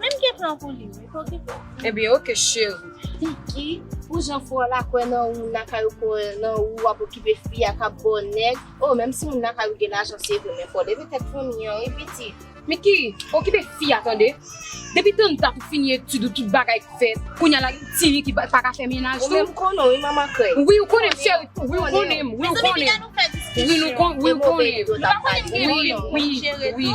Menm gen plan pou li wi pou ki pou. Ebyen ok cheri. Kiki pou jan fwa la kwe nan ou moun lakay ou kwe nan ou wap okipe fi a kap baw neg oh menm si moun lakay ou gen lajan se vre men fo leve tet fanmi an wi pitit. Miki okipe fi a tande. Depi tanta pou fini etid ou tout bagay k fet kounya la gen ti ki paka fe menaj tou. Ou menm konnen wi manman krey. Wi ou konnen m cheri wi ou konnen m wi ou konnen m. Mezanmi piga nou fe diskisyon. Wi nou konnen m wi ou konnen m. Nou pa konnen m gen menaj wi wi wi.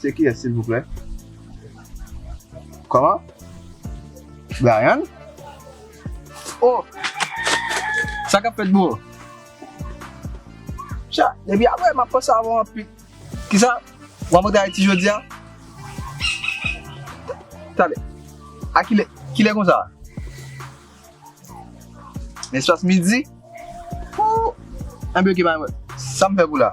Se kiyès silvouplè? Kòman? Bryan? O! Sa kap fèt bro? Cha, depi aprè map panse avèw anpil. Kisa? Wap antre Ayiti jodia? Tande, a kilè? Kilè konsa? Nan espas midi? Ooh! Enben ok pa gen pwoblèm. Sam fè pou la?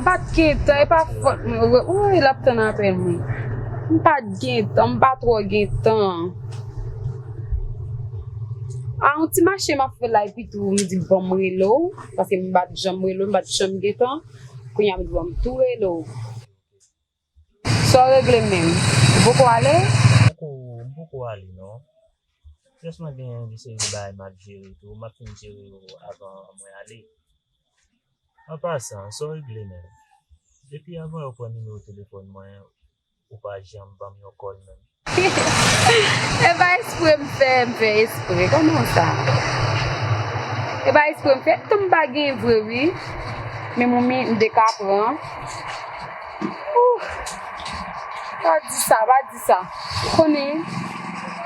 Mpat gentan epa fòt mwen vre ooy lap tann apèl mwen mpat gentan mpa trò gentan a yon ti mache map fè la epi tou mdi banm rele w paske mpat janm rele w mpat janm gentan kounya mdi banm tou rele w. Saw regle menm? Ou poko ale? Poko, m poko ale non. Jès mwen gen yon seri bagay map jere tou, map fin jere yo avan mwen ale. An pasan, saw regle menm? Depi avan yo pran nimewo telefòn mwen, ou pa janm banm yon kòl menm. E pa espre m fè, m fè espre. Koman sa? E pa espre m fè, tan m pa gen vre wi. Men moumi m te ka pran. Ooh! Pa di sa, pa di sa. Konnen,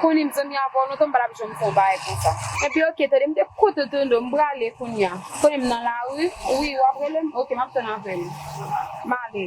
konnen m zanmi avè w lontan m pa tap janm fè yon bagay konsa. Epi ok, tande m te kote w tande w, m prale kounya. Konnen m nan lari, wi w ap rele m? Ok, m ap tann apèl ou. M ale.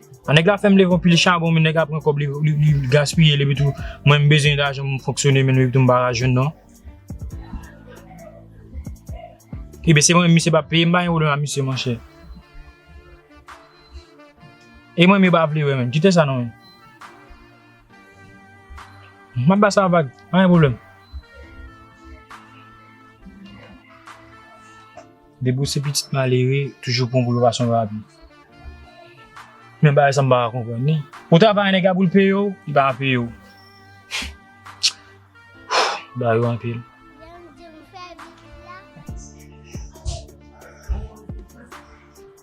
An nèg la fèm leve yon pil chabon men nèg la pran kòb li li gaspiyel epi tou mwen m bezwen lajan pou m fonksyone men epi tou m pa ka jwenn non. Ebyen se mwen menm misye pap peye m pa gen pwoblèm a misye monchè. E mwen menm yo pa vle wè menm kite sa non menm. Map ba sa vag pa gen pwoblèm. Depi w se pitit malere, toujou pran pou yo pa son papi. Men bagay sa m pa ka konprann li. Ou travay nèg la pou l peye w, li pa ka peye w. Ba yo anpil.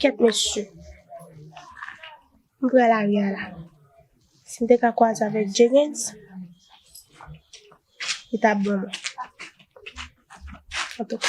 Kèt mesye, m pran lari a la. Si m te ka kwaze avèk Jegens, li t ap ban mwen. Antouka.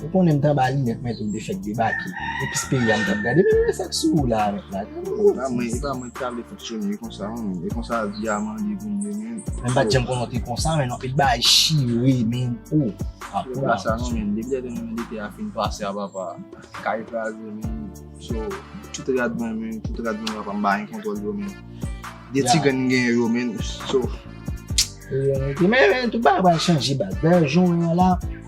Ou konnen m t anba linèt mwen tou m te fèk debake. Epis peyi a m t ap gade. Men men sa k sou ou la a mèt la. E pa mwen ki ta vle fonksyone konsa non men. E konsa vi a mande pou m ye men. Men m pa t janm konnen w te konsa men non. E bagay chire men oo. Se pa sa non men. Depi lè te mwen lite a fin pase a papa. Kay kraze men. So tout rad mwen men. Tout rad mwen papa m pa gen kontwòl yo men. De ti grenn m gen yo men. So. Men men tout bagay pral chanje baz. Dayè jan w wè m la.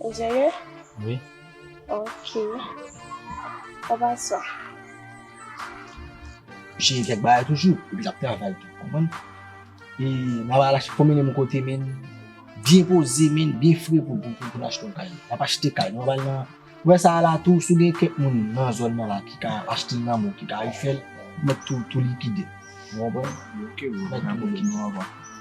Ou serye? Oui. Ok. Ou pa swa? Jè kèk bagay toujou, epi lap travay tou, konprann? E nan wè al achte konbyen de mou kote men, byen poze men, byen fre pou pou pou pou achte yon kay. Nap achte kay, nan wè al nan, wè sa a la tou, sou gen kèk moun nan zòn nan la ki ka achte nan mou, ki ka refèl, mèt tou tou likide. Ou konprann? Ok bro, mèt tou likide.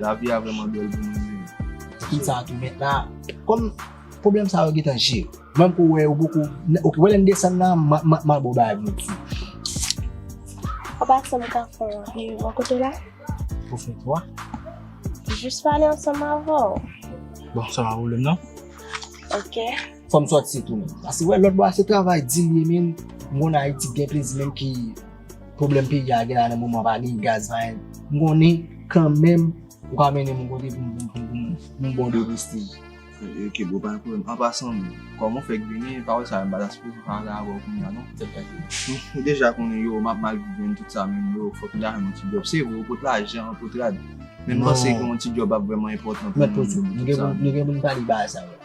Lavi a vreman bel pou mwen menm. Tout sa tou met la. Kom problem sa yo gentan jere. Menm kou we yo poko. Ok we lem desann la ma bo bagay pou nou. Papa sa m ka fe pou m bo kote la? Pou fe kwa? Jis pale ansanm avèw. Bon sa pa problem nan. Ok. Fom sot si tou menm. Asi we lot bo a se travay di li menm. M konn ayiti gen plezi menm ki. Pwoblèm peyi a gen la nan moman an pa gen gaz pa gen, m konnen kanmenm ou ka mennen m yon kote pou m ba w deguste l. Ok bro pa gen pwoblèm, an pasan kòman ou fèk vini e pawòl sa yo m pa ta sipoze pale avè w kounya non. Tèt chaje. Ou deja konnen yo, m ap mal viv tout sa men yo fòk m ta jwenn yon ti djòb. Se vre ou pot lajan, ou pot rad men m panse gen yon ti djòb ap vrèman enpòtan pou m. Mèt pote, nou gen pou n pale bagay sa yo.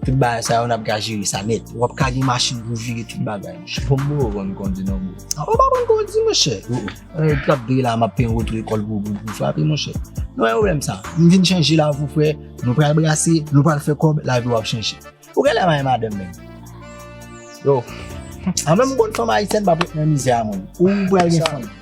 Tout bagay sa yo nap ka jere sa nèt. Wap ka gen machin pou vire tout bagay mwen chè. Bon mwen aprann kondi non bro. Mwen pa aprann kondi mwen chè. Mwen kap vire la map peye oto ekol pou frape mwen chè. Nou wè problèm sa. M vin chanje la pou frè. Nou pral brase, nou pral fè kòb, lavi wap chanje. Ou genlè mayen madanm menm. Yow. Mwen menm m konn fanm ayisyèn pa pou nan mizè a mwen. Ou pral gen fanm.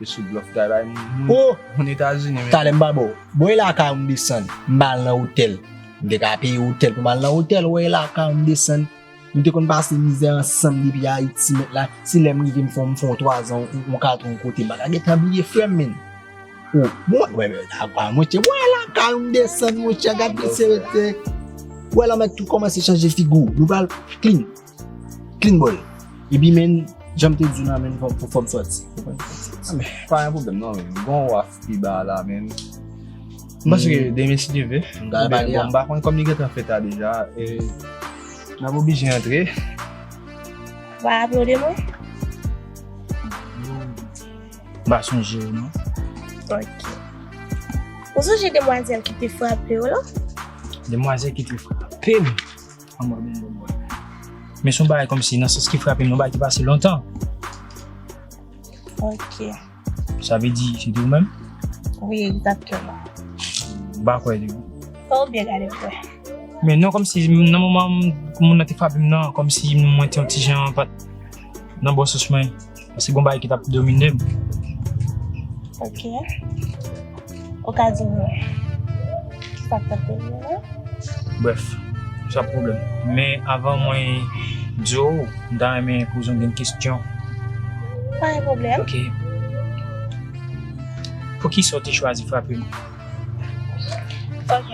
Yo sou blòf kay bay moun moun etazini men. Talè m pa ba w. Bon e lakay ou m desann m ba al nan otèl. M te ka peye otèl pou m al nan otèl wè e lakay ou m desann. Nou te konn pase mizè ansanm depi ayiti mèt la si lè m rive m fè w m fè w twazan yon kat yon kote m pa ta gentan bliye frè m menn. O mwen wè e lakay ou monchè wè e lakay ou m desann monchè gad mesye yo te wè lanmèd tou kòmanse chanje figi w nou pral clean. Clean boy Epi menn janm te diw nan menn fòm pou fòm sòti Pa gen pwoblèm non menn Gon waf pi ba la menn M panse ke demen si Dye ve M ta pale a M pa konn kòm li gentan fèt la deja e M ap oblije antre Wap aplode mwen M pa sonje ou non Ok Ou sonje demwazèl ki te frape ou lan Demwazèl ki te frape m? Anmwe bon bon bon. Men son bagay kòm si nan sans ki frapem, yon bagay ki pase lontan. Ok. Sa vle di se te ou menm? Wi, egzakteman. M pa kwè li. Fò ou byen gade pou wè. Men non kòm si nan moman moun nan te frapem nan kòm si mwen te yon ti jan pat nan bon sans mwen. Se kon bay ki tap domine m. Ok. Ou ka di m ki sa k tap domine w la? Bref, sa p pwoblèm. Men avan mwen di w, m ta renmen poze w yon kesyon. Pa gen pwoblèm. Ok. Poukisa w te chwazi frape m? Ok.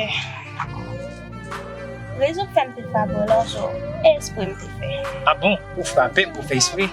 Rezon ki fè m te frape w la, se espre m te fè. A bon? Ou frape m pou fè espre?